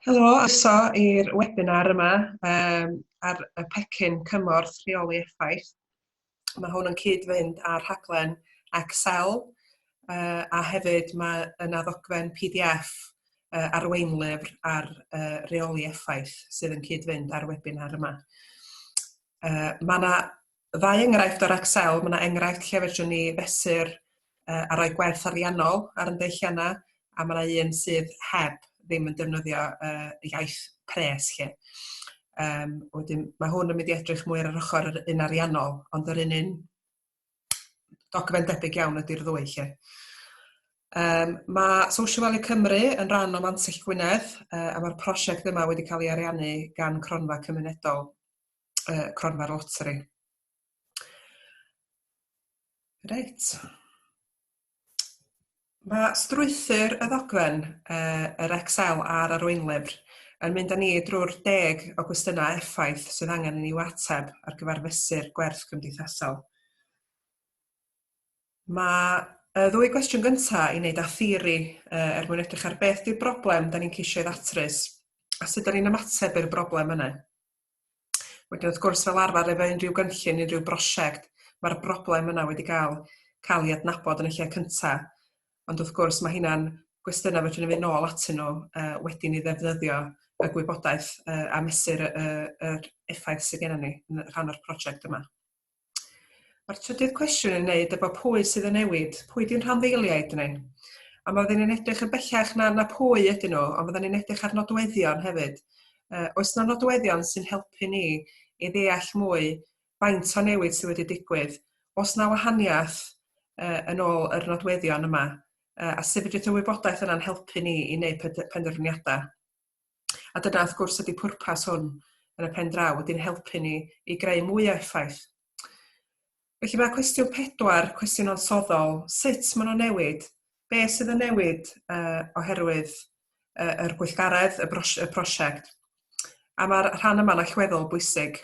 Helo, so i'r webinar yma um, ar y pecyn cymorth rheoli effaith. Mae hwn yn cyd-fynd â'r rhaglen Excel uh, a hefyd mae yna ddogfen PDF uh, arweinlyfr ar uh, reoli effaith sydd yn cyd-fynd â'r webinar yma. Uh, mae yna ddau enghraifft o'r Excel, mae yna enghraifft lle fedrwn ni fesur uh, a rhoi gwerth ariannol ar yn deilliannau, a mae yna un sydd heb ddim yn defnyddio uh, iaith pres lle. Um, wedyn, mae hwn yn mynd i edrych mwy ar yr ochr yr un ariannol, ond yr un un dogfen debyg iawn ydy'r ddwy lle. Um, mae Social Value Cymru yn rhan o Mansill Gwynedd uh, a mae'r prosiect yma wedi cael ei ariannu gan cronfa cymunedol uh, cronfa'r loteri. Reit. Mae strwythyr y ddogfen, uh, yr Excel a'r arweinlyfr yn mynd â ni drwy'r deg o gwestiynau effaith sydd angen yn i'w ateb ar gyfer fesur gwerth cymdeithasol. Mae y ddwy gwestiwn gyntaf i wneud â theori uh, er mwyn edrych ar beth di'r broblem da ni'n ceisio ei ddatrys a sut da ni'n ymateb i'r broblem yna. Wedyn wrth gwrs fel arfer efo unrhyw gynllun, unrhyw brosiect, mae'r broblem yna wedi cael cael ei adnabod yn y lle cynta. Ond wrth gwrs mae hynna'n gwestiynau fedrwn ni fynd nôl atyn nhw uh, wedyn i ddefnyddio y gwybodaeth uh, a mesur y, y, yr effaith sydd gennym ni yn rhan o'r prosiect yma. Mae'r trydydd cwestiwn yn wneud efo pwy sydd yn newid, pwy di'n rhanddeiliaid ni? A mae fydden ni'n edrych yn bellach na, na pwy ydyn nhw, ond fydden ni'n edrych ar nodweddion hefyd. Uh, oes na nodweddion sy'n helpu ni i ddeall mwy faint o newid sydd wedi digwydd? Os na wahaniaeth uh, yn ôl yr nodweddion yma, uh, a sefydliad y wybodaeth yna'n helpu ni i wneud penderfyniadau. A dyna wrth gwrs ydy pwrpas hwn yn y pen draw, ydy'n helpu ni i greu mwy o effaith. Felly mae cwestiwn pedwar, cwestiwn ansoddol, sut maen nhw'n newid? Be sydd yn newid uh, oherwydd uh, yr gweithgaredd, y, bros y prosiect? A mae'r rhan yma'n allweddol bwysig.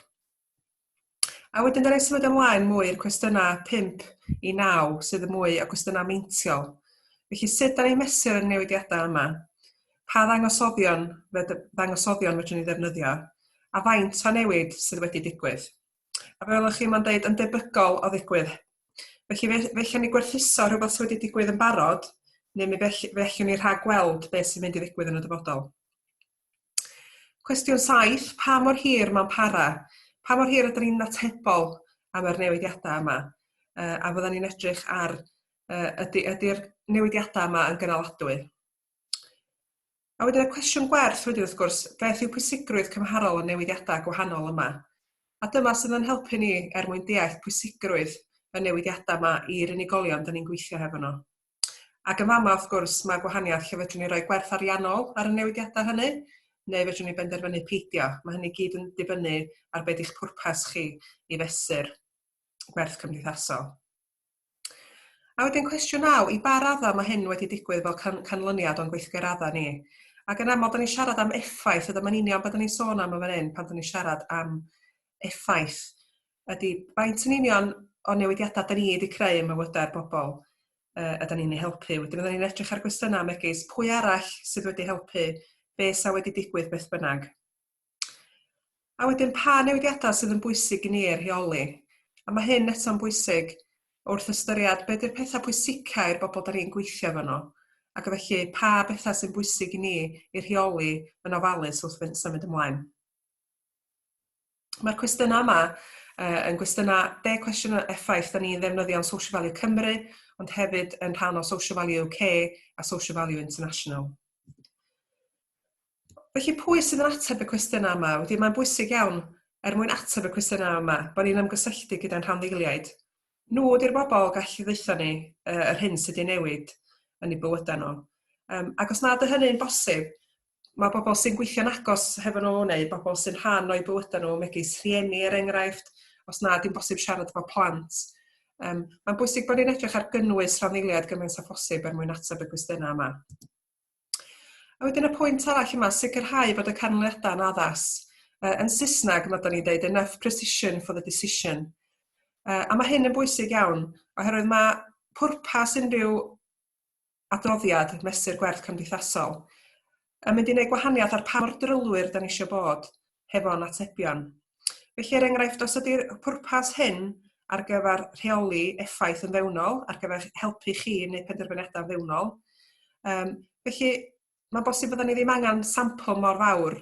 A wedyn da ni symud ymlaen mwy i'r cwestiynau 5 i 9 sydd yn mwy o gwestiynau meintiol. Felly sut da ni'n mesur y newidiadau yma? Pa ddangosoddion, ddangosoddion fedrwn ni ddefnyddio? A faint o newid sydd wedi digwydd? A fel ych chi mae'n dweud yn debygol o ddigwydd. Felly fe, fe allwn ni gwerthuso rhywbeth sydd wedi digwydd yn barod, neu mi fe, fe allwn ni rhag gweld beth sy'n mynd i ddigwydd yn y dyfodol. Cwestiwn saith, pa mor hir mae'n para? Pa mor hir ydyn ni'n atebol am yr newidiadau yma? Uh, a fydden ni'n edrych ar uh, ydy, ydy'r newidiadau yma yn gynaladwy? A wedyn y cwestiwn gwerth wedyn wrth gwrs, beth yw pwysigrwydd cymharol y newidiadau gwahanol yma? A dyma sydd yn helpu ni er mwyn deall pwysigrwydd y newidiadau yma i'r unigolion dyn ni'n gweithio hefo nhw. Ac yn fama, wrth gwrs, mae gwahaniaeth lle fedrwn ni roi gwerth ariannol ar y newidiadau hynny, neu fedrwn ni benderfynu peidio. Mae hynny gyd yn dibynnu ar beth eich pwrpas chi i fesur gwerth cymdeithasol. A wedyn cwestiwn naw, i ba raddau mae hyn wedi digwydd fel can canlyniad o'n gweithgareddau ni? Ac yn aml, da ni'n siarad am effaith, a dyma'n union beth da ni'n sôn am yn fan hyn pan da ni'n siarad am effaith. Ydy, faint yn union o newidiadau da ni wedi creu ym mywydau'r bobl uh, ydyn ni'n ei helpu. Wedyn ydyn ni'n edrych ar gwestiynau megis pwy arall sydd wedi helpu, be sa wedi digwydd beth bynnag. A wedyn pa newidiadau sydd yn bwysig i ni ei rheoli. A mae hyn eto'n bwysig wrth ystyried beth yw'r pethau pwysicau i'r bobl da ni'n gweithio efo nhw. Ac felly pa bethau sy'n bwysig i ni i rheoli yn ofalus wrth symud ymlaen. Mae'r cwestiynau yma uh, yn gwestiynau, de cwestiwn o effaith, da ni'n ddefnyddio'n Social Value Cymru, ond hefyd yn rhan o Social Value UK a Social Value International. Felly pwy sydd yn ateb y cwestiynau yma? Wedi mae'n bwysig iawn er mwyn ateb y cwestiynau yma, bod ni'n ymgysylltu gyda'n rhanddeiliaid. Nhw ydy'r bobl gallu ddeitha ni uh, yr hyn sydd wedi newid yn ei bywydau nhw. Um, ac os nad y hynny'n bosib, mae pobl sy'n gweithio'n agos hefo nhw neu bobl sy'n rhan o'u bywydau nhw, megis rhieni er enghraifft, os na dim bosib siarad efo plant. Um, mae'n bwysig bod ni'n edrych ar gynnwys rhanddeiliaid gymaint â phosib er mwyn ateb y gwestiynau yma. A wedyn y pwynt arall yma, sicrhau bod y canlyniadau yn addas. Uh, yn Saesneg, mae ni'n dweud enough precision for the decision. Uh, a mae hyn yn bwysig iawn, oherwydd mae pwrpas unrhyw adroddiad Mesur Gwerth Cymdeithasol yn mynd i wneud gwahaniaeth ar pa mor drylwyr da ni eisiau bod hefo'n atebion. Felly, er enghraifft, os ydy'r pwrpas hyn ar gyfer rheoli effaith yn fewnol, ar gyfer helpu chi i wneud penderfyniadau fewnol, um, felly mae'n bosib byddwn ni ddim angen sampl mor fawr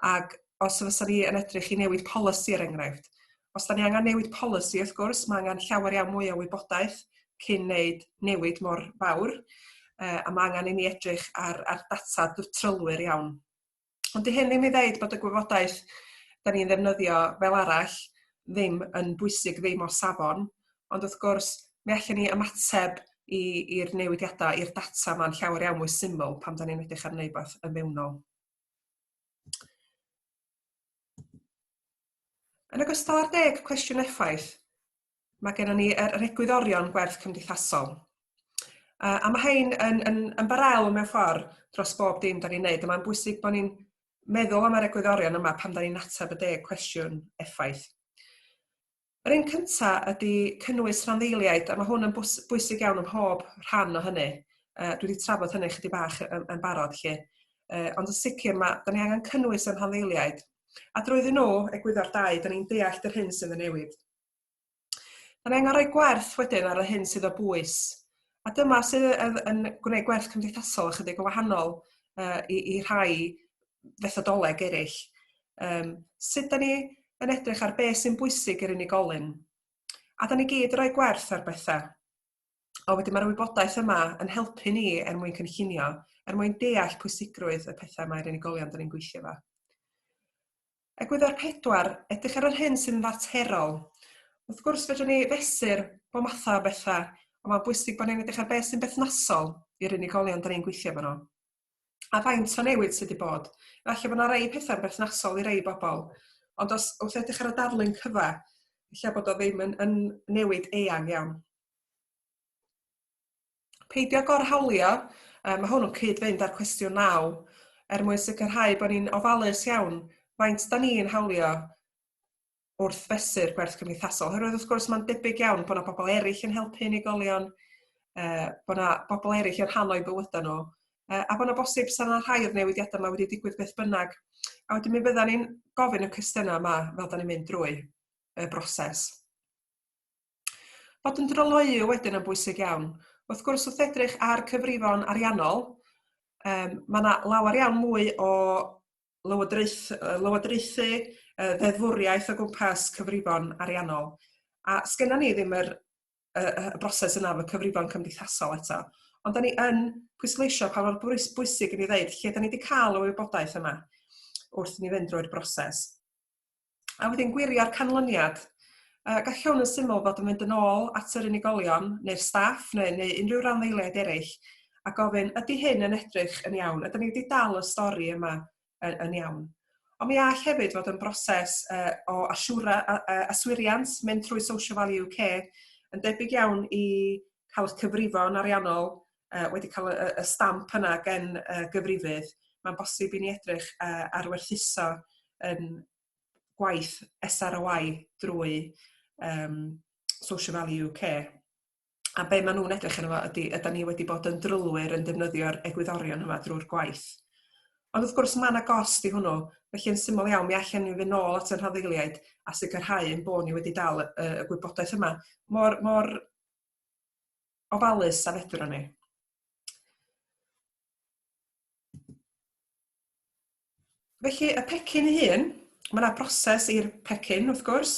ac os fysa ni yn edrych i newid polisi er enghraifft. Os da ni angen newid polisi, wrth gwrs, mae angen llawer iawn mwy o wybodaeth cyn wneud newid mor fawr, uh, a mae angen i ni edrych ar, ar data trylwyr iawn. Ond di hyn ddim i ddeud bod y gwybodaeth da ni'n ddefnyddio fel arall ddim yn bwysig, ddim o safon, ond wrth gwrs, mi allan ni ymateb i'r newidiadau, i'r data yma'n llawer iawn mwy syml pan da ni'n edrych ar wneud beth yn fewnol. Yn ogystal â'r deg cwestiwn effaith, mae gennym ni yr egwyddorion gwerth cymdeithasol. Uh, a mae hyn yn, yn, yn barel mewn ffordd dros bob dim da ni'n neud. Mae'n bwysig bod ni'n meddwl am yr egwyddorion yma pan da ni'n ateb y deg cwestiwn effaith. Yr un cynta ydy cynnwys rhanddeiliaid, a mae hwn yn bwysig iawn ym mhob rhan o hynny. Uh, dwi wedi trafod hynny chydig bach yn, yn barod lle. Uh, ond yn sicr mae, da ni angen cynnwys yn rhanddeiliaid. A drwyddyn nhw, egwyddor dau, da ni'n deall yr hyn sydd yn newid. Mae'n angen rhoi gwerth wedyn ar y hyn sydd o bwys. A dyma sydd yn gwneud gwerth cymdeithasol ychydig yn wahanol uh, i, i rhai fethodoleg eraill. Um, sut da ni yn edrych ar beth sy'n bwysig i'r unigolyn? A da ni gyd rhoi gwerth ar bethau. O wedyn mae'r wybodaeth yma yn helpu ni er mwyn cynllunio, er mwyn deall pwysigrwydd y pethau mae'r unigolion da ni'n gweithio fo. Egwyddor pedwar, edrych ar yr hyn sy'n faterol. Wrth gwrs, fedrwn ni fesur bob mathau o bethau, ond mae'n bwysig bod ni'n edrych ar beth sy'n berthnasol i'r unigolion da ni'n gweithio efo nhw. A faint o newid sydd wedi bod. Felly, bod yna rei pethau'n berthnasol i rei bobl, ond os wrth edrych ar y darlun cyfa, lle bod o ddim yn, yn newid eang iawn. Peidio gorhawlio, mae hwn yn cyd-fynd â'r cwestiwn naw, er mwyn sicrhau bod ni'n ofalus iawn faint da ni'n hawlio wrth fesur gwerth cymdeithasol. Oherwydd wrth gwrs mae'n debyg iawn bod yna bobl eraill yn helpu unigolion, uh, bod yna bobl eraill yn rhan o'i bywydau nhw, uh, a bod yna bosib sy'n yna rhai o'r newidiadau yma wedi digwydd beth bynnag. A wedyn mi fydda ni'n gofyn y cwestiynau yma fel da ni'n mynd drwy y broses. Bod yn dryloyw wedyn yn bwysig iawn. Wrth gwrs, wrth edrych ar cyfrifon ariannol, um, mae yna lawer iawn mwy o lywodraeth, lywodraethu uh, ddeddfwriaeth o gwmpas cyfrifon ariannol. A sgynna ni ddim yr, y, y broses yna fy cyfrifon cymdeithasol eto. Ond da ni yn pwysleisio pa mor bwysig i ni ddeud lle da ni wedi cael y wybodaeth yma wrth ni fynd drwy'r broses. A wedyn gwirio'r canlyniad. Uh, galliwn yn syml fod yn mynd yn ôl at yr unigolion neu'r staff neu, neu unrhyw randdeiliaid eraill a gofyn, ydy hyn yn edrych yn iawn? Ydyn ni wedi dal y stori yma yn, yn iawn? Ond mi all hefyd fod yn broses uh, o asiwra, uh, aswiriant mynd trwy Social Value UK yn debyg iawn i cael y cyfrifon ariannol uh, wedi cael y, y stamp yna gen uh, gyfrifydd, mae'n bosib i ni edrych uh, ar werthuso yn gwaith SROI drwy um, Social Value UK. A be maen nhw'n edrych yn yma ydy, ydy ni wedi bod yn drylwyr yn defnyddio'r egwyddorion yma drwy'r gwaith. Ond wrth gwrs mae yna gost i hwnnw, felly yn syml iawn mi allan ni fynd ôl at y rhaddeiliaid a sicrhau yn bod ni wedi dal y, y gwybodaeth yma. Mor, mor ofalus a fedrwn ni. Felly, y pecyn ei hun, mae yna broses i'r pecyn, wrth gwrs,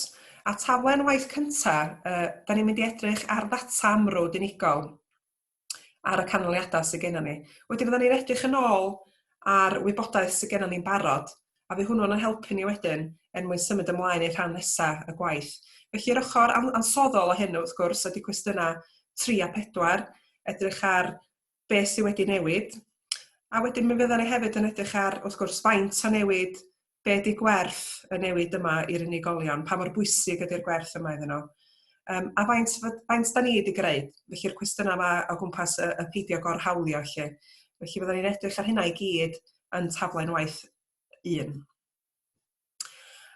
a taflen waith cyntaf, uh, da ni'n mynd i edrych ar ddata amrwd unigol ar y canlyniadau sydd gennym ni. Wedyn, fydda ni'n edrych yn ôl ar wybodaeth sydd gennym ni'n barod a fydd hwnnw'n ein helpu ni wedyn er mwyn symud ymlaen i'r rhan nesaf y gwaith. Felly, yr ochr ansoddol o hyn, wrth gwrs, ydy cwestiynau 3 a 4, edrych ar beth sydd wedi newid, a wedyn mi fyddan ni hefyd yn edrych ar, wrth gwrs, faint o newid, be di gwerth y newid yma i'r unigolion, pa mor bwysig ydy'r gwerth yma iddyn nhw. Um, a faint, faint da ni wedi greu, felly'r cwestiynau yma o gwmpas y, y peidio gorhawlio, felly. Felly fydden ni'n edrych ar hynna i gyd yn taflen waith 1.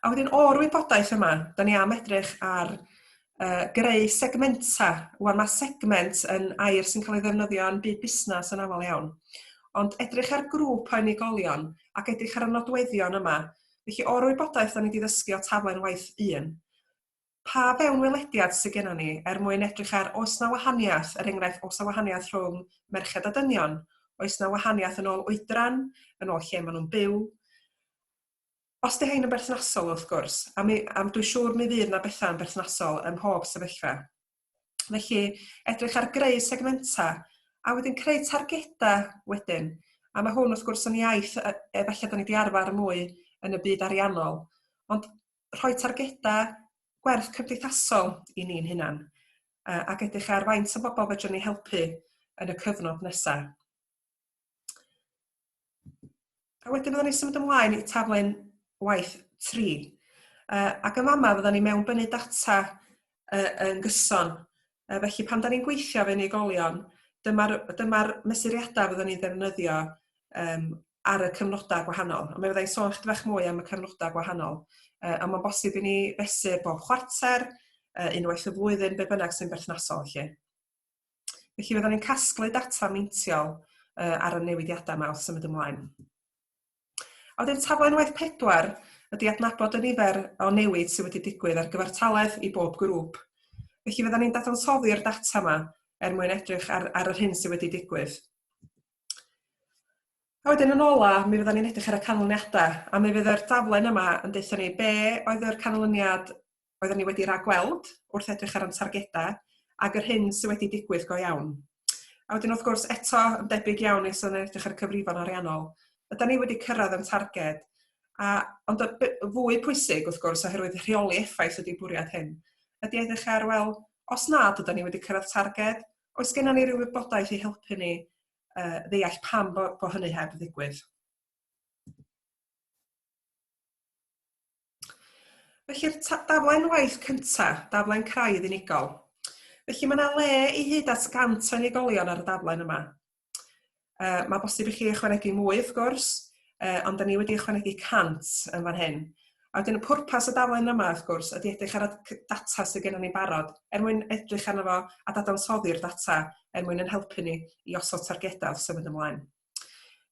A wedyn o'r wybodaeth yma, da ni am edrych ar uh, greu segmenta. Wan mae segment yn air sy'n cael ei ddefnyddio yn byd busnes yn aml iawn. Ond edrych ar grŵp o unigolion ac edrych ar y nodweddion yma. Felly o'r wybodaeth da ni wedi ddysgu o taflen waith 1, pa fewnwelediad sydd gennym ni er mwyn edrych ar oes na wahaniaeth, er enghraifft, oes na wahaniaeth rhwng merched a dynion, oes na wahaniaeth yn ôl oedran, yn ôl lle maen nhw'n byw. Os dy hyn yn berthnasol, wrth gwrs, a mi, am dwi'n siŵr mi fydd na bethau yn berthnasol ym mhob sefyllfa. Felly, edrych ar greu segmentau, a wedyn creu targedau wedyn. A mae hwn, wrth gwrs, yn iaith efallai da ni wedi arfer mwy yn y byd ariannol. Ond rhoi targedau gwerth cymdeithasol i ni'n hunan, ac edrych ar faint o bobl fedrwn ni helpu yn y cyfnod nesaf. A wedyn byddwn ni'n symud ymlaen i taflen waith 3. Uh, ac yn fama fyddwn ni mewn bynnu data yy yn gyson. Yy felly pan 'dan ni'n gweithio efo unigolion, dyma'r dyma'r mesuriadau fyddwn ni'n ddefnyddio um, ar y cyfnodau gwahanol. A mi fydda i'n sôn chydig bach mwy am y cyfnodau gwahanol. Uh, a mae'n bosib i ni fesur bob chwarter, uh, unwaith y flwyddyn, be bynnag sy'n berthnasol lle. Felly fydda ni'n casglu data meintiol uh, ar y newidiadau yma wrth symud ymlaen. A wedyn taflen waith pedwar ydy adnabod y nifer o newid sydd wedi digwydd ar gyfartaledd i bob grŵp. Felly fyddan ni'n dadansoddi'r data yma er mwyn edrych ar, ar yr hyn sydd wedi digwydd. A wedyn yn ola, mi fyddan ni'n edrych ar y canlyniadau, a mi fydd yr daflen yma yn deutha ni be oedd yr canlyniad oeddwn i wedi ragweld wrth edrych ar yn targedau ag yr hyn sydd wedi digwydd go iawn. A wedyn wrth gwrs eto yn debyg iawn nes yn edrych ar y cyfrifon ariannol, ydy ni wedi cyrraedd yn targed? A, ond y fwy pwysig wrth gwrs oherwydd rheoli effaith ydy bwriad hyn, ydy edrych ar, wel, os nad ydy ni wedi cyrraedd targed, oes gennym ni ryw wybodaeth i helpu ni uh, ddeall pam bod bo hynny heb ddigwydd? Felly'r daflen waith cyntaf, daflen craidd unigol. Felly mae yna le i hyd at 100 o unigolion ar y daflen yma. Uh, mae bosib i chi ychwanegu mwy wrth gwrs, uh, ond da ni wedi ychwanegu 100 yn fan hyn. A wedyn y pwrpas y daflen yma, wrth gwrs, ydy edrych ar y data sydd gennym ni'n barod, er mwyn edrych arno fo a dadansoddi'r data, er mwyn yn helpu ni i osod targedau wrth symud ymlaen.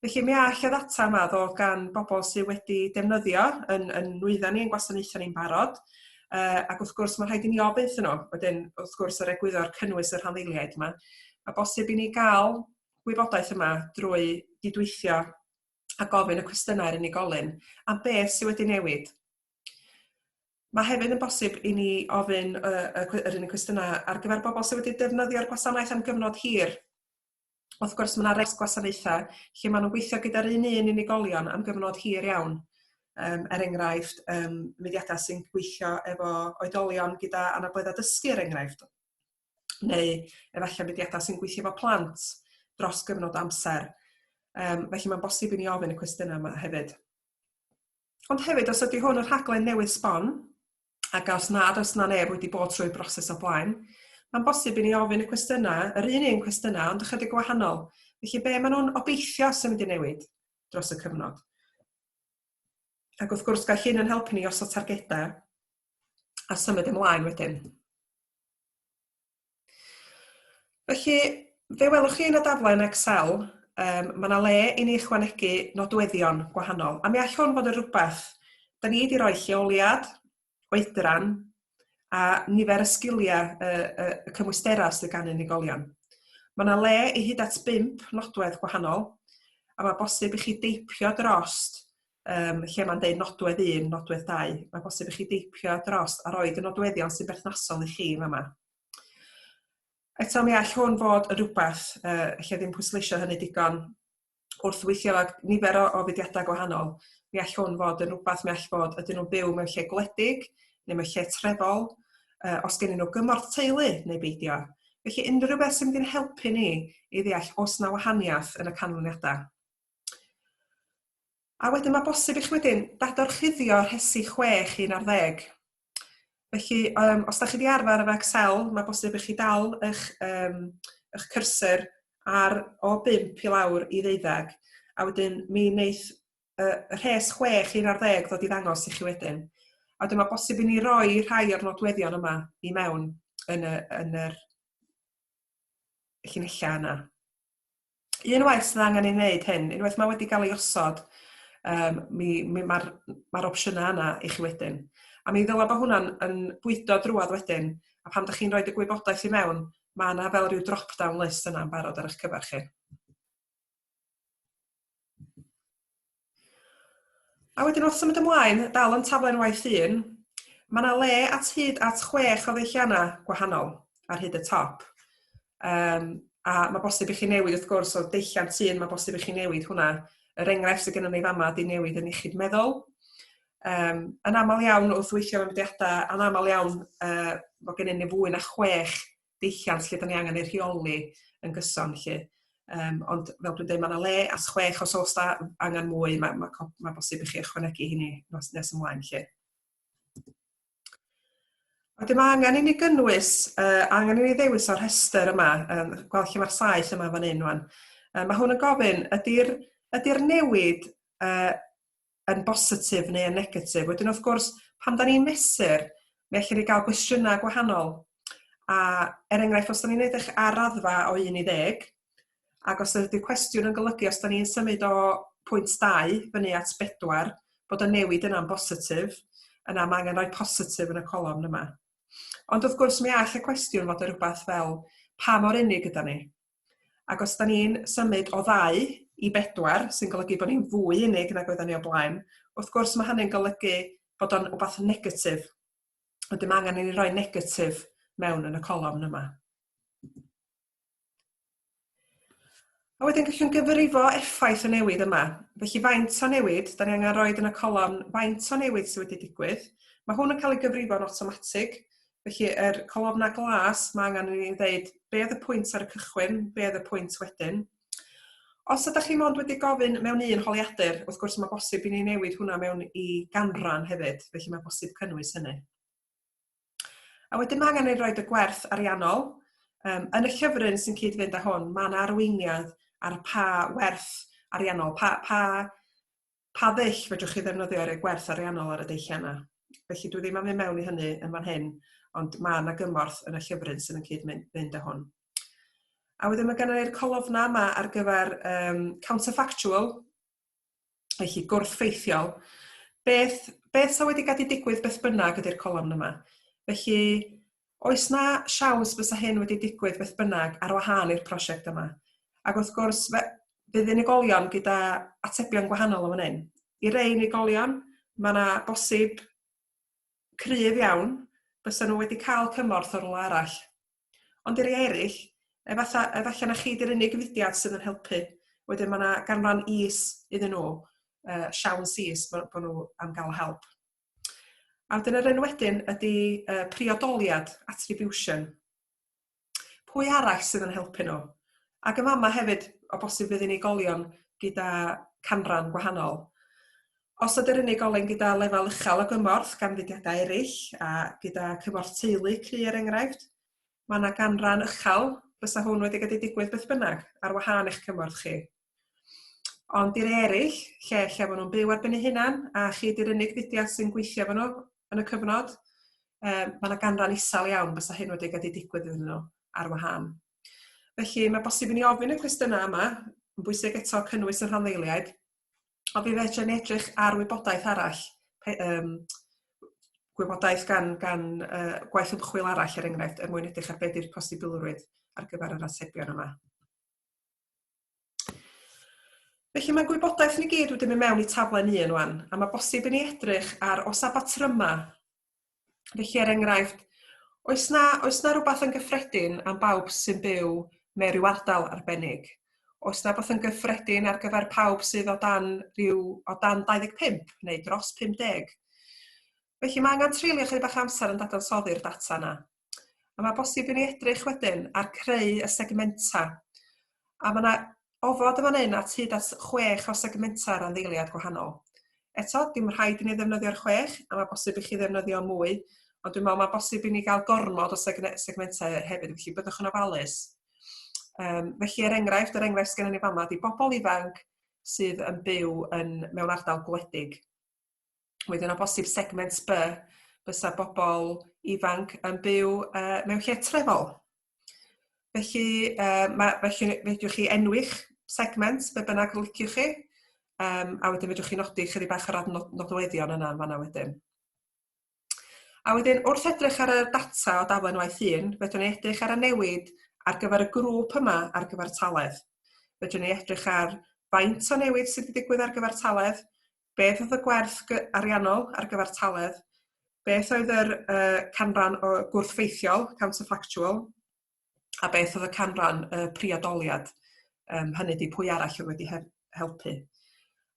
Felly mi all y ddata yma ddod gan bobl sydd wedi defnyddio yn yn nwyddau ni, yn gwasanaethau ni'n barod, uh, ac wrth gwrs mae'n rhaid i ni ofyn iddyn nhw, wedyn wrth gwrs yr egwyddor cynnwys y rhanddeiliaid yma, a bosib i ni gael gwybodaeth yma drwy gydweithio a gofyn y cwestiynau i'r unigolyn am beth sydd wedi newid. Mae hefyd yn bosib i ni ofyn uh, yr un cwestiynau ar gyfer bobl sydd wedi defnyddio'r gwasanaeth am gyfnod hir, Wrth gwrs, mae yna res gwasanaethau lle maen nhw'n gweithio gyda'r un un unigolion am gyfnod hir iawn. Um, er enghraifft, um, mudiadau sy'n gweithio efo oedolion gyda anabledda dysgu, er enghraifft. Neu efallai mudiadau sy'n gweithio efo plant dros gyfnod amser. Um, felly mae'n bosib i ni ofyn y cwestiynau yma hefyd. Ond hefyd, os ydy hwn y rhaglen newydd sbon, ac os nad oes na neb wedi bod trwy'r broses o blaen, mae'n bosib i ni ofyn y cwestiynau, yr un un cwestiynau, ond ychydig gwahanol. Felly, be maen nhw'n obeithio sy'n mynd i newid dros y cyfnod? Ac wrth gwrs, gall hyn yn helpu ni os o targedau a symud ymlaen wedyn. Felly, fe welwch chi yn y daflen Excel, um, mae yna le i ni ychwanegu nodweddion gwahanol, a mi all hwn fod yn rhywbeth da ni wedi rhoi lleoliad, oedran, a nifer y sgiliau y, y, y cymwysterau sydd gan unigolion. Mae yna le i hyd at bimp nodwedd gwahanol, a mae bosib i chi deipio drost um, lle mae'n deud nodwedd 1, nodwedd 2. Mae bosib i chi deipio dros a roed y nodweddion sy'n berthnasol i chi yn yma. Eto mi all hwn fod yn rhywbeth, uh, lle ddim pwysleisio hynny digon, wrth weithio ag nifer o, o fudiadau gwahanol, mi all hwn fod yn rhywbeth mi all fod ydyn nhw'n byw mewn lle gwledig neu mewn lle trefol, uh, os gen nhw gymorth teulu neu beidio. Felly unrhyw beth sy'n mynd i'n helpu ni i ddeall os na wahaniaeth yn y canlyniadau. A wedyn mae bosib i chi wedyn dadorchuddio rhesi 6 i 11. Felly, um, os da chi wedi arfer efo Excel, mae bosib i chi dal eich, um, eich cursor ar o 5 i lawr i ddeuddeg. A wedyn mi wneith uh, rhes 6 i 11 ddod i ddangos i chi wedyn. A wedyn mae bosib i ni roi rhai o'r nodweddion yma i mewn yn, y, yn yr llinellau yna. un waith sydd angen ei wneud hyn, unwaith mae wedi cael ei osod, um, mi, mi mae'r ma opsiynau yna i chi wedyn. A mi ddyla bod hwnna'n yn bwydo drwad wedyn, a pan ydych chi'n rhoi y gwybodaeth i mewn, mae yna fel rhyw drop-down list yna yn barod ar eich cyfer chi. A wedyn wrth symud ymlaen, dal yn taflen waith un, mae yna le at hyd at chwech o ddulliannau gwahanol ar hyd y top. Um, a mae bosib i chi newid wrth gwrs o deilliant un, mae bosib i chi newid hwnna. Yr enghraifft sydd gennym ni fama di newid yn iechyd meddwl. Um, yn aml iawn wrth weithio mewn mudiadau, yn aml iawn uh, mae gennym ni fwy na chwech deilliant lle 'da ni angen ei rheoli yn gyson 'lly. Yym ond fel dwi'n dweud, mae yna le at chwech os oes 'da angen mwy, mae ma' co- ma' bosib i chi ychwanegu hynny nos nes ymlaen 'lly. Wedyn mae angen i ni gynnwys, uh, angen i ni ddewis o'r rhestr yma, um, gweld lle mae'r saeth yma fan hyn rwan. Uh, mae hwn yn gofyn, ydy'r ydy newid uh, yn bositif neu yn negatif. Wedyn wrth gwrs, pan da ni'n mesur, mi allwn ni gael gwestiynau gwahanol. A er enghraifft, os da ni'n edrych ar raddfa o 1 i 10, ac os ydy'r cwestiwn yn golygu os da ni'n symud o pwynt 2 fyny at 4, bod y newid yna'n bositif, yna mae angen rhoi positif yn y colofn yma. Ond wrth gwrs, mi all y cwestiwn fod yn rhywbeth fel pa mor unig yda ni? Ac os da ni'n symud o ddau i bedwar, sy'n golygu bod ni'n fwy unig nag oedden ni o blaen, wrth gwrs mae hynny'n golygu bod o'n wbath negatif. Wedyn mae angen i ni roi negatif mewn yn y colofn yma. A wedyn gallwn gyfrifo effaith y newid yma. Felly faint o newid, da ni angen roed yn y colofn faint o newid sydd wedi digwydd. Mae hwn yn cael ei gyfrifo'n automatig, Felly, yr colofnau glas, mae angen i ni ddeud be oedd y pwynt ar y cychwyn, be oedd y pwynt wedyn. Os ydych chi mond wedi gofyn mewn un holiadur, wrth gwrs mae bosib i ni newid hwnna mewn i ganran hefyd, felly mae bosib cynnwys hynny. A wedyn mae angen ei roed y gwerth ariannol. Um, yn y llyfryn sy'n cyd-fynd â hwn, mae yna arweiniad ar pa werth ariannol, pa, pa pa ddull fedrwch chi ddefnyddio i roi gwerth ariannol ar y dulliau yna. Felly dwi ddim am fynd mewn i hynny yn fan hyn, ond mae yna gymorth yn y llyfryn sydd yn cyd-fynd â hwn. A wedyn mae gennym ni'r colofna yma ar gyfer um, counterfactual, felly gwrthffeithiol. Beth, beth sy'n wedi gadw digwydd beth bynnag ydy'r colofn yma. Felly, Oes 'na siawns bysa hyn wedi digwydd beth bynnag ar wahân i'r prosiect yma? Ac wrth gwrs, fe fydd unigolion gyda atebion gwahanol yn fan hyn. I rei unigolion, mae 'na bosib cryf iawn bysa nhw wedi cael cymorth o rywle arall. Ond i rei eraill, efalla, efalla na chi 'di'r unig fudiad sydd yn helpu. Wedyn mae 'na ganran is iddyn nhw, uh, siawns is bod nhw am gael help. A wedyn yr un wedyn ydy uh, priodoliad, attribution. Pwy arall sydd yn helpu nhw? Ac yn fama hefyd, o bosib fydd unigolion gyda canran gwahanol. Os ydy'r unigolyn gyda lefel uchel o gymorth gan fudiadau eraill a gyda cymorth teulu cry er enghraifft, mae yna ganran uchel fysa hwn wedi gallu digwydd beth bynnag ar wahân eich cymorth chi. Ond i'r eraill, lle lle maen nhw'n byw ar ben eu hunan, a chi di'r unig fudiad sy'n gweithio efo nhw yn y cyfnod, um, mae yna ganran isel iawn fysa hyn wedi gallu digwydd iddyn nhw ar wahân. Felly mae bosib i ni ofyn y cwestiynau yma, yn bwysig eto cynnwys y rhanddeiliaid, ond fi fedra ni edrych ar wybodaeth arall, pe, um, gwybodaeth gan, gan uh, gwaith ymchwil arall er enghraifft, er mwyn edrych ar beth yw'r posibilrwydd ar gyfer yr atebion yma. Felly mae gwybodaeth ni gyd wedi mynd mewn i taflen un wan, a mae bosib i ni edrych ar os a batryma. Felly er enghraifft, oes na, oes na rhywbeth yn gyffredin am bawb sy'n byw mewn rhyw ardal arbennig? Oes na rhywbeth yn gyffredin ar gyfer pawb sydd o dan, rhyw, o dan 25 neu dros 50? Felly mae angen treulio chydig bach amser yn dadansoddi'r data yna. A mae bosib i ni edrych wedyn ar creu y segmenta. A mae yna ofod yn fan hyn at hyd at chwech o segmenta ar ddeiliad gwahanol. Eto, dim rhaid i ni ddefnyddio'r chwech, a mae bosib i chi ddefnyddio mwy, ond dwi'n meddwl mae bosib i ni gael gormod o segmentau hefyd, felly byddwch yn ofalus. Um, felly, er enghraifft, er enghraifft sgen ni fama, di bobl ifanc sydd yn byw yn, mewn ardal gwledig. Wedyn o bosib segment B fysa bobl ifanc yn byw uh, mewn lle trefol. Felly, uh, ma, felly fedrwch chi enwi'ch segment be bynnag liciwch chi, um, a wedyn fedrwch chi nodi chydig bach yr adnodweddion yna yn fanna wedyn. A wedyn, wrth edrych ar y data o daflen waith un, fedrwn ni edrych ar y newid ar gyfer y grŵp yma ar gyfer taledd. Fedrwn ni edrych ar faint o newid sydd wedi digwydd ar gyfer taledd, beth oedd y gwerth ariannol ar gyfartaledd, beth oedd yr uh, canran o gwrthfeithiol, counterfactual, a beth oedd y canran y uh, priodoliad, um, hynny di pwy arall oedd wedi helpu.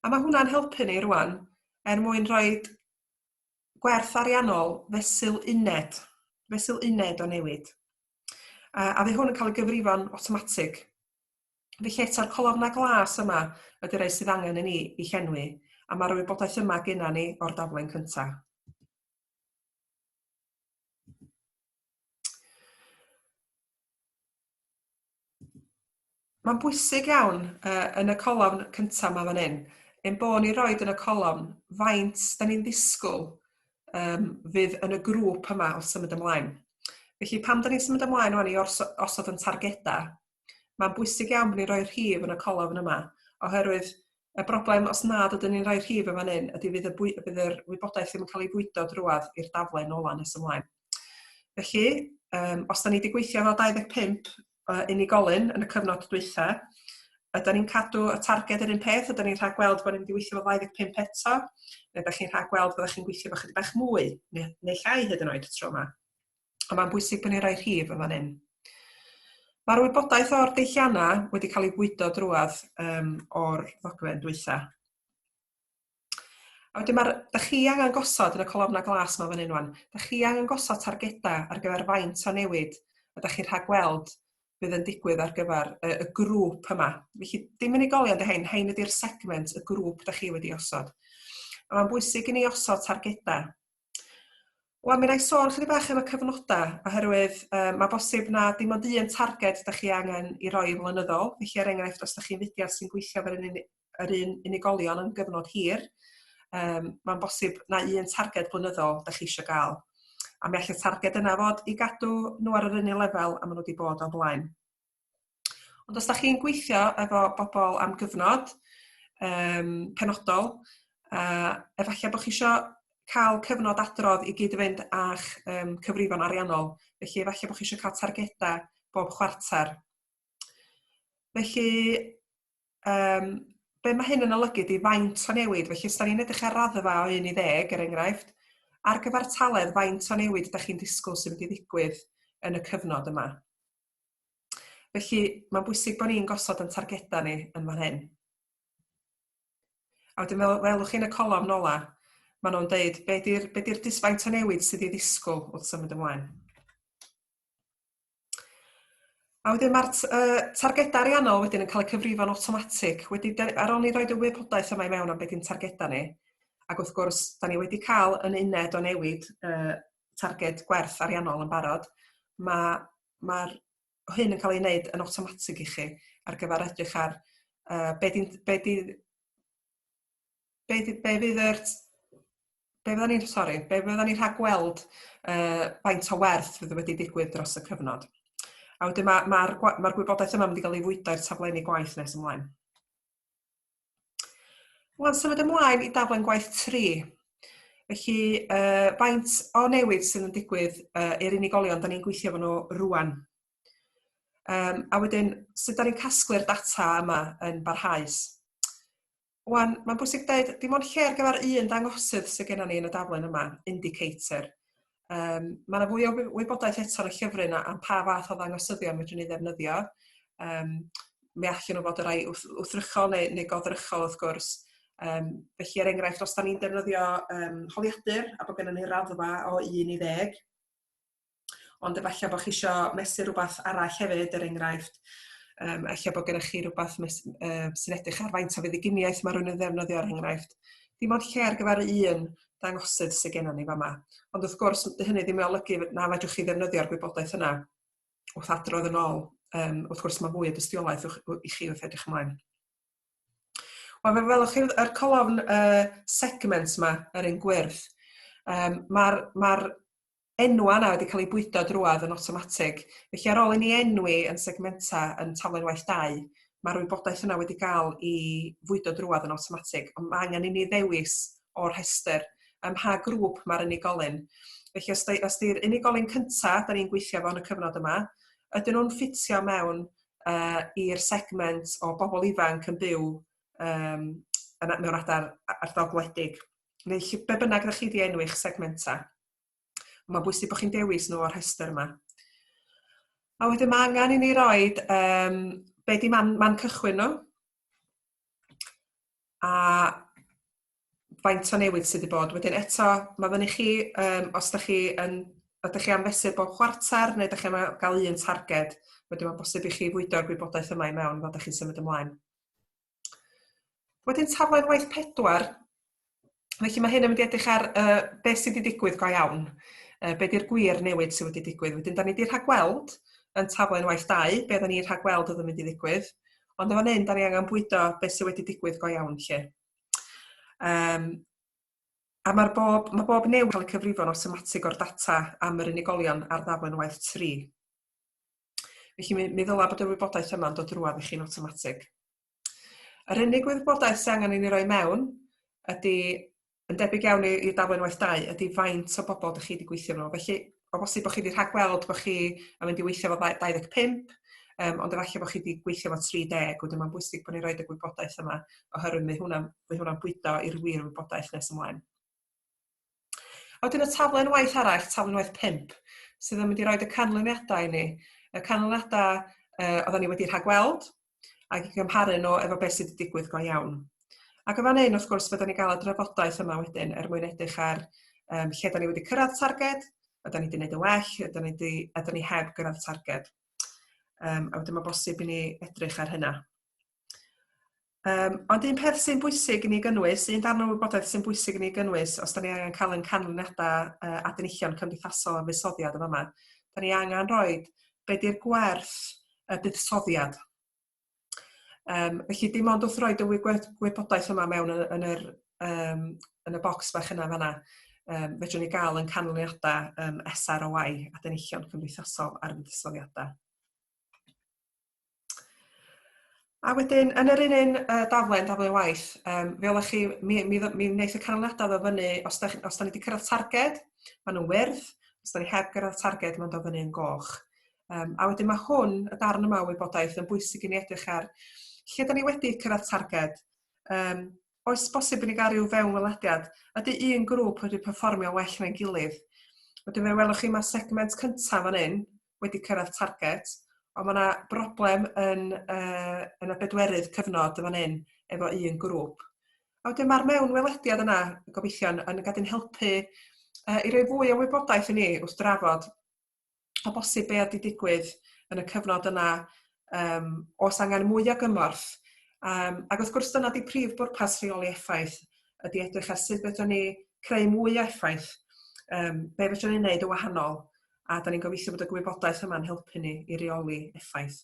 A mae hwnna'n helpu ni rwan er mwyn rhoi gwerth ariannol fesul uned, fesul uned o newid. A, a fe hwn yn cael ei gyfrifon automatic. Felly eto'r colofnau glas yma ydy'r rhai sydd angen i ni i llenwi, a mae'r wybodaeth yma genna ni o'r daflen cyntaf. Mae'n bwysig iawn uh, yn y colofn cyntaf yma fan hyn, ein bod ni roed yn y colofn faint da ni'n ddisgwyl um, fydd yn y grŵp yma wrth symud ymlaen. Felly pam da ni'n symud ymlaen o'n i osod yn targedau, Mae'n bwysig iawn bod ni'n rhoi'r rhif yn y colofn yma, oherwydd y broblem, os nad ydyn ni'n rhoi'r rhif yn fan hyn, ydy fydd y, bwy, fydd yr wybodaeth ddim yn cael ei fwydo drwad i'r daflen ola nes ymlaen. Felly, um, os da ni wedi gweithio efo 25 uh, unigolyn yn y cyfnod dwytha, ydy ni'n cadw y targed yr un peth, ydy ni'n rhaid gweld bod ni'n mynd i weithio efo 25 eto, neu ydych chi'n rhaid gweld bod chi'n gweithio efo chydig bach mwy, neu, neu llai hyd yn oed tro yma. a mae'n bwysig bod ni'n rhoi rhif yn fan hyn. Mae'r wybodaeth o'r deilliannau wedi cael ei fwydo drwad um, o'r ddogfen dwytha. A wedyn mae'r, da chi angen gosod yn y colofna glas mae fan hyn wan, da chi angen gosod targedau ar gyfer faint o newid a da chi'n rhagweld bydd yn digwydd ar gyfer y, y grŵp yma. Felly dim unigolion dy hein, hein ydy'r segment, y grŵp da chi wedi osod. A mae'n bwysig i ni osod targedau Wel, mi rai sôn chydig bach am y cyfnodau, oherwydd um, mae bosib na dim ond un targed da chi angen i roi yn flynyddol. Felly, er enghraifft, os da chi'n fudiad sy'n gweithio fel un, yr un unigolion yn gyfnod hir, um, mae'n bosib na un targed blynyddol da chi eisiau gael. A mi allai targed yna fod i gadw nhw ar yr un lefel a maen nhw wedi bod o'n blaen. Ond os da chi'n gweithio efo bobl am gyfnod um, penodol, uh, efallai bod chi eisiau cael cyfnod adrodd i gyd i fynd â'ch um, cyfrifon ariannol. Felly efallai bod chi eisiau cael targedau bob chwarter. Felly, um, be mae hyn yn olygu di faint o newid. Felly, os da ni'n edrych ar raddfa o 1 i 10, er enghraifft, ar gyfartaledd faint o newid ydych chi'n disgwyl sy'n mynd i ddigwydd yn y cyfnod yma. Felly, mae'n bwysig bod ni'n gosod yn targedau ni yn fan hyn. A wedyn fel welwch chi'n y colofn nola, maen nhw'n deud be di'r be di disfaint o newid sydd i ddisgwyl wrth symud ymlaen. A wedyn mae'r uh, targedau ariannol wedyn yn cael eu cyfrifo'n automatic. Wedi, ar ôl ni roed y wybodaeth yma i mewn am beth i'n targedau ni, ac wrth gwrs, da ni wedi cael yn uned o newid uh, targed gwerth ariannol yn barod, mae mae'r hyn yn cael ei wneud yn awtomatig i chi ar gyfer edrych ar uh, be di, be di, be di, be fydd yr be fydda ni'n, sori, be fydda ni'n rhag gweld uh, faint o werth fydd wedi digwydd dros y cyfnod. A wedyn mae'r ma, ma, ma gwybodaeth yma wedi cael ei fwydo i'r taflenni gwaith nes ymlaen. Wel, symud ymlaen i daflen gwaith 3. Felly, uh, faint o newid sydd yn digwydd uh, i'r unigolion da ni'n gweithio fan nhw rwan. Um, a wedyn, sut da ni'n casglu'r data yma yn barhaus. Wan, mae'n bwysig dweud, dim ond lle ar gyfer un dangosydd sydd gennym ni yn y daflen yma, indicator. Um, mae yna fwy o wybodaeth eto ar y llyfrau yna am pa fath o ddangosyddion fedrwn ni ddefnyddio. Um, mi allan nhw fod y rai wthrychol neu, neu godrychol wrth gwrs. Um, felly, er enghraifft, os da ni'n defnyddio um, holiadur a bod gennym ni raddfa o 1 i 10, ond efallai bod chi eisiau mesur rhywbeth arall hefyd, er enghraifft, um, efallai bod gennych chi rhywbeth mes, um, sy'n edrych ar faint o fudduginiaeth mae rhywun yn ddefnyddio, er enghraifft. Dim ond lle ar gyfer un dangosydd sydd gennym ni fama. Ond wrth gwrs, dy hynny ddim yn olygu na fedrwch chi ddefnyddio'r gwybodaeth yna wrth adrodd yn ôl. Um, wrth gwrs, mae fwy o dystiolaeth i chi wrth edrych ymlaen. Wel, fe welwch chi yr colofn uh, segments yma, yr un gwyrdd. Um, Mae'r ma enwau yna wedi cael eu bwydo drwodd yn awtomatig. Felly ar ôl i ni enwi yn segmenta yn taflen waith 2, mae'r wybodaeth yna wedi cael i fwydo drwodd yn awtomatig, ond mae angen i ni ddewis o'r rhestr ym mha grŵp mae'r unigolyn. Felly os, os di'r unigolyn cyntaf da ni'n gweithio fo yn y cyfnod yma, ydyn nhw'n ffitio mewn uh, i'r segment o bobl ifanc yn byw um, mewn adar ardal gwledig, neu lle be bynnag ydych chi wedi enw eich segmenta. Mae'n bwysig bod chi'n dewis nhw o'r rhestr yma. A wedyn mae angen i ni roi um, be di man, man cychwyn nhw a faint o newid sydd wedi bod. Wedyn eto, mae fyny chi, um, os da chi yn ydych chi am fesur bob chwarter neu ydych chi am gael un targed, wedyn mae'n bosib i chi fwydo'r gwybodaeth yma i mewn fod ydych chi'n symud ymlaen. Wedyn taflen waith pedwar. Felly mae hyn yn mynd i edrych ar uh, beth sydd wedi digwydd go iawn. Uh, be di'r gwir newid sydd wedi digwydd. Wedyn, da ni wedi rhagweld yn taflen waith dau, be da ni'n rhagweld oedd yn mynd i ddigwydd. Ond efo hyn, da ni angen bwydo beth sydd wedi digwydd go iawn lle. Um, A mae'r bob, mae bob newid cael y cyfrifon awtomatig o'r data am yr unigolion ar ddaflen waith 3. Felly mi, mi ddyla bod yr wybodaeth yma'n dod drwad i chi'n awtomatig. Yr unig wybodaeth sy'n angen i ni roi mewn ydy, yn debyg iawn i'r daflen waith dau, ydy faint o bobl ydych chi wedi gweithio nhw. Felly, o bosib bod chi wedi rhagweld bod chi yn mynd i weithio fo 25, um, ond efallai bod chi wedi gweithio fo 30, wedyn mae'n bwysig bod ni'n rhoi y gwybodaeth yma, oherwydd mae hwnna'n hwnna bwydo i'r wir wybodaeth nes ymlaen. A wedyn y taflen waith arall, taflen waith 5, sydd yn mynd i roi y canlyniadau i ni. Y canlyniadau uh, oedden ni wedi rhagweld, ac i gymharu nhw efo beth sydd wedi digwydd go iawn. Ac yn fan hyn, wrth gwrs, byddwn ni'n cael y drafodaeth yma wedyn er mwyn edrych ar um, lle da ni wedi cyrraedd targed, ydy ni wedi gwneud yn well, ydy ni, wedi, ydy ni heb gyrraedd targed. Um, a wedyn mae bosib i ni edrych ar hynna. Um, ond un peth sy'n bwysig i ni gynnwys, un darn o wybodaeth sy'n bwysig i ni gynnwys, os da ni angen cael yn canlyniadau uh, adenichion cymdeithasol a fusoddiad yma, da ni angen rhoi be di'r gwerth y buddsoddiad. Um, felly dim ond wrth roi dy wybodaeth yma mewn yn, yn, yr, um, yn y bocs bach yna fanna, um, fedrwn ni gael yn canlyniadau um, SROI, Adenillion Cymdeithasol ar Fuddsoddiadau. A wedyn, yn yr un un uh, daflen, daflen waith, um, fe oeddech chi, mi, mi, mi wneud y canlyniadau ddo fyny, os da, os da ni wedi cyrraedd targed, maen nhw'n wyrdd, os da ni heb gyrraedd targed, maen nhw'n fyny yn goch. Um, a wedyn mae hwn, y darn yma o wybodaeth, yn bwysig i ni edrych ar lle da ni wedi cyrraedd targed, um, Oes bosib i ni gael rhyw fewnwelediad? Ydy un grŵp wedi perfformio well na'i gilydd? Wedyn fe welwch chi mae segment cyntaf fan hyn wedi cyrraedd target, ond mae yna broblem yn, uh, yn y bedwerydd cyfnod fan hyn efo un grŵp. A wedyn mae'r mewnwelediad yna, gobeithio, yn, yn gadw'n helpu uh, i roi fwy o wybodaeth i ni wrth drafod o bosib be oedd wedi digwydd yn y cyfnod yna, um, os angen mwy o gymorth. Um, ac wrth gwrs dyna di prif bwrpas rheoli effaith, ydy edrych ar sut fedrwn ni creu mwy o effaith, um, be fedrwn ni wneud y wahanol, a da ni'n gobeithio bod y gwybodaeth yma'n helpu ni i reoli effaith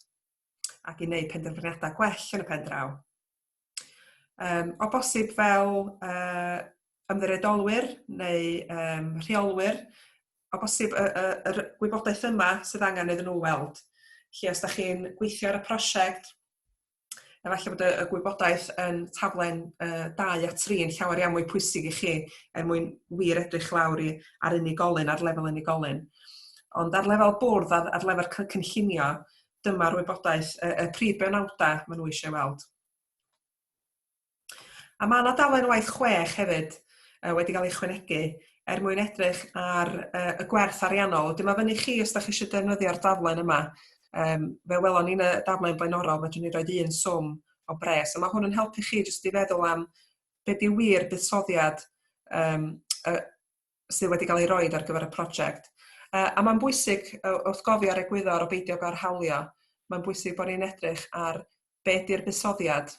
ac i wneud penderfyniadau gwell yn y pen draw. Um, o bosib fel uh, ymddiriedolwyr neu um, rheolwyr, o bosib y, y, y gwybodaeth yma sydd angen iddyn nhw weld. Lle os da chi'n gweithio ar y prosiect, efallai bod y, y gwybodaeth yn taflen uh, 2 a 3 yn llawer iawn mwy pwysig i chi er mwyn wir edrych lawr i, ar unigolyn, ar lefel unigolyn. Ond ar lefel bwrdd, ar, ar lefel cynllunio, dyma'r wybodaeth, y, y prif benawdau maen nhw eisiau weld. A mae yna dalen waith chwech hefyd uh, wedi cael ei chwynegu er mwyn edrych ar uh, y gwerth ariannol. Dyma fyny chi os da chi eisiau defnyddio'r daflen yma. Um, fe welon ni'n y daflen blaenorol, mae ni roed un swm o bres. A mae hwn yn helpu chi jyst i feddwl am beth yw wir buddsoddiad um, y, sydd wedi cael ei roed ar gyfer y prosiect. Uh, a mae'n bwysig, uh, wrth gofio ar egwyddor o beidio gael hawlio, mae'n bwysig bod ni'n edrych ar be di'r buddsoddiad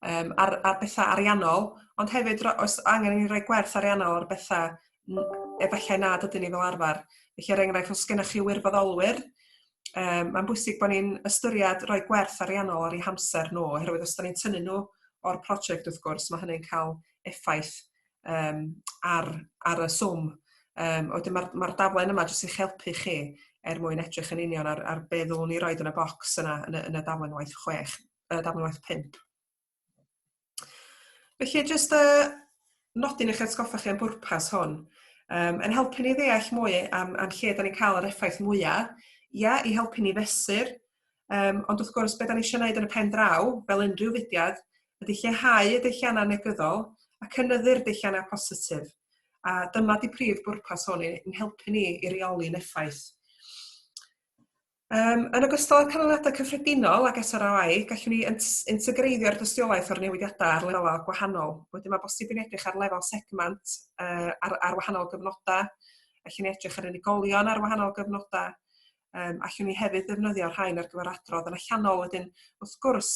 um, ar, ar bethau ariannol, ond hefyd os angen ni roi gwerth ariannol ar bethau efallai nad ydyn ni fel arfer. Felly, er enghraifft, os gennych chi wirfoddolwyr, um, mae'n bwysig bod ni'n ystyried rhoi gwerth ariannol ar ei hamser nhw, oherwydd os da ni'n tynnu nhw o'r prosiect, wrth gwrs, mae hynny'n cael effaith yym ar ar y swm. Yym a wedyn ma'r ma'r daflen yma jyst i'ch helpu chi er mwyn edrych yn union ar ar be' ddylwn ni roid yn y bocs yna yn y yn y daflen waith chwech yy daflen waith pump. Felly jyst y uh, nodyn eich atgoffa chi am bwrpas hwn. Um, yn helpu ni ddeall mwy am, am lle da ni'n cael yr effaith mwyaf, ia, i helpu ni fesur, Um, ond wrth gwrs, beth da ni eisiau gwneud yn y pen draw, fel unrhyw fudiad, ydy lleihau y deilliannau negyddol a cynnyddu'r deilliannau positif. A dyma di prif bwrpas hwn yn helpu ni i reoli'n effaith. Um, yn ogystal â'r canlyniadau cyffredinol ac SROI, gallwn ni integreiddio'r dystiolaeth o'r newidiadau ar lefelau gwahanol. Wedyn mae bosib yn edrych ar lefel segment uh, ar, ar wahanol gyfnodau, felly ni edrych ar unigolion ar wahanol gyfnodau, Um, allwn ni hefyd ddefnyddio rhain ar gyfer adrodd yn allanol wedyn. Wrth gwrs,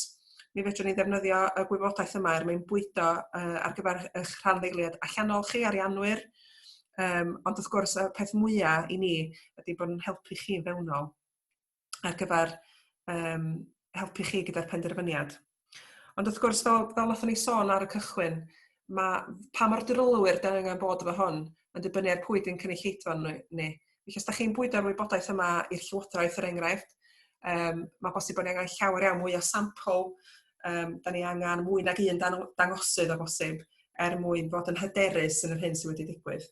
mi fedrwn ni ddefnyddio y gwybodaeth yma er mwyn bwydo uh, ar gyfer eich rhan ddeiliad allanol chi, arianwyr, um, ond wrth gwrs y peth mwyaf i ni ydy bod yn helpu chi'n fewnol ar gyfer um, helpu chi gyda'r penderfyniad. Ond wrth gwrs, fel, fel nathon ni sôn ar y cychwyn, mae pa mor drylwyr da angen bod efo hwn yn dibynnu ar pwy di'n cynulleidfa ni. Felly, os da chi'n bwydo'r wybodaeth yma i'r Llywodraeth, er enghraifft, um, mae bosib bod ni angen llawer iawn mwy o sampl, um, da ni angen mwy nag un dan, dangosydd o bosib, er mwyn bod yn hyderus yn yr hyn sydd wedi digwydd.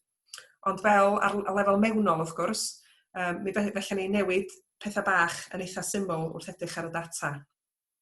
Ond fel ar lefel mewnol, wrth gwrs, um, mi felly ni newid pethau bach yn eitha syml wrth edrych ar y data.